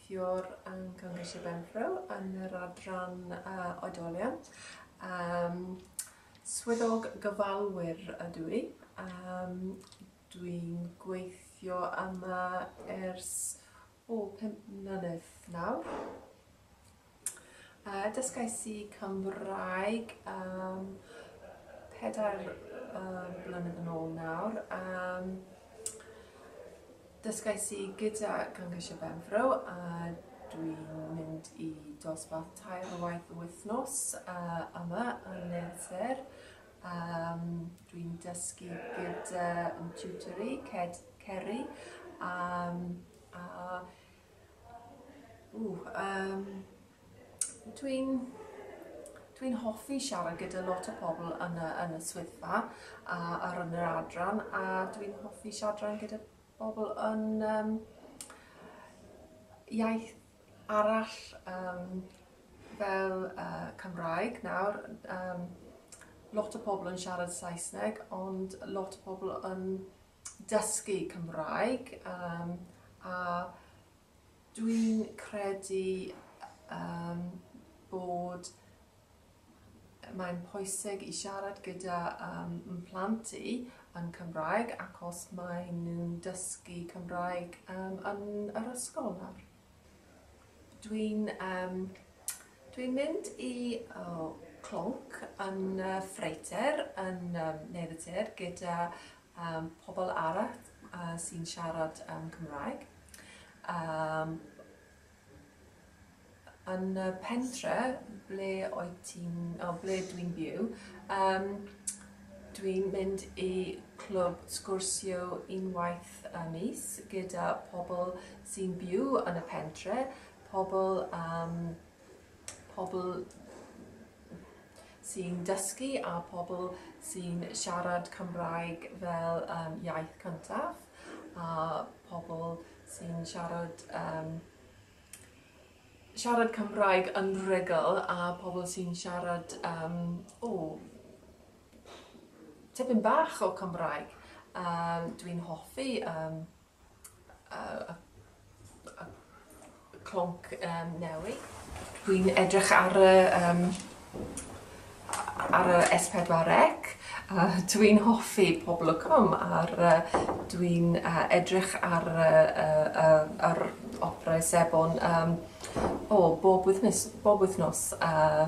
Cwricwlwm yng Nghymru Sir Benfro yn yr adran Oedolion. Um, swyddog gyfalwyr ydw i. Um, Dwi'n gweithio yma ers o pum mlynedd nawr. Yy dysgais i Cymraeg yym pedair yy blynedd yn ôl nawr yym dysgais i gyda Cyngor Benfro a dwi'n mynd i dosbarth tair o waith y wythnos yy yma yn Merthyr yym dwi'n dysgu gyda yn tiwtor i Ced- Ceri yym a Ww, um, dwi'n dwi'n hoffi siarad gyda lot o pobl yn y, yn y swyddfa a, ar yn yr adran a dwi'n hoffi siarad gyda pobl yn um, iaith arall um, fel uh, Cymraeg nawr. Um, lot o pobl yn siarad Saesneg ond lot o pobl yn dysgu Cymraeg yym a dwi'n credu yym bod mae'n pwysig i siarad gyda yym m- plant i yn Cymraeg ac os maen nhw'n dysgu Cymraeg yym yn yr ysgol nawr. Dwi'n yym dwi'n mynd i o clonc yn y ffreutur yn yym neu'r y tir gyda yym pobl arall yy sy'n siarad yym Cymraeg yym yn y pentre ble oed ti'n o ble dwi'n byw yym dwi'n mynd i clwb sgwrsio unwaith y mis gyda pobl sy'n byw yn y pentre, pobl, um, pobl sy'n dysgu a pobl sy'n siarad Cymraeg fel um, iaith cyntaf a pobl sy'n siarad um, siarad Cymraeg yn rhugl a pobl sy'n siarad um, o, tipyn bach o Cymraeg. Um, Dwi'n hoffi um, uh, uh, clonc um, newi. Dwi'n edrych ar y, um, ar y S4C. Uh, dwi'n hoffi pobl y cwm a'r uh, dwi'n uh, edrych ar y uh, uh, uh, opera sebon um, o, bob wythnos. Bob wythnos uh,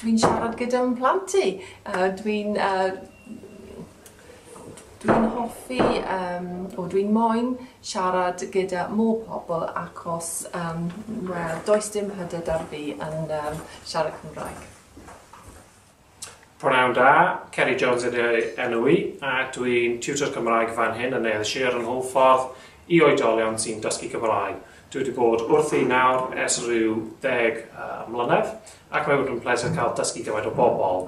Dwi'n siarad gyda fy mhlant i. Dwi'n hoffi, o dwi'n moyn siarad gyda mor pobl achos wel does dim hyder 'da fi yn siarad Cymraeg. Pnawn da, Ceri Jones ydy enw i a dwi'n tiwtor Cymraeg fan hyn yn Neuadd Sir yn Hwlffordd i oedolion sy'n dysgu Cymraeg. Dwi wedi bod wrthi nawr ers rhyw ddeg mlynedd ac mae wedi'n pleser cael dysgu gymaint o bobl.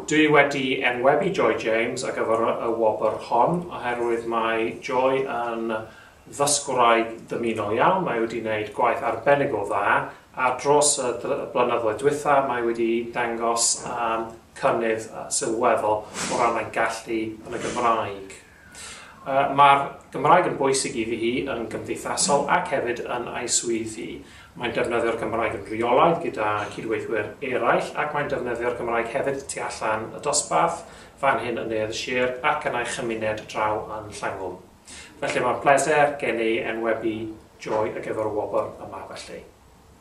Dwi wedi enwebu Joy James ar gyfer y wobr hon oherwydd mae Joy yn ddysgwraig dymunol iawn, mae wedi gwneud gwaith arbennig o dda a dros y blynyddoedd dwytha mae wedi dangos cynnydd sylweddol o ran ei gallu yn y Gymraeg. Mae'r Gymraeg yn bwysig i fi, hi yn gymdeithasol ac hefyd yn a'i swydd hi. Mae'n defnyddio'r Gymraeg yn rheolaidd gyda cydweithwyr eraill ac mae'n defnyddio'r Gymraeg hefyd tu allan y dosbarth, fan hyn yn Neuadd y Sir ac yn a'i chymuned draw yn Llangwm. Felly mae'n bleser gen i enwebu Joy ar gyfer y wobr yma felly.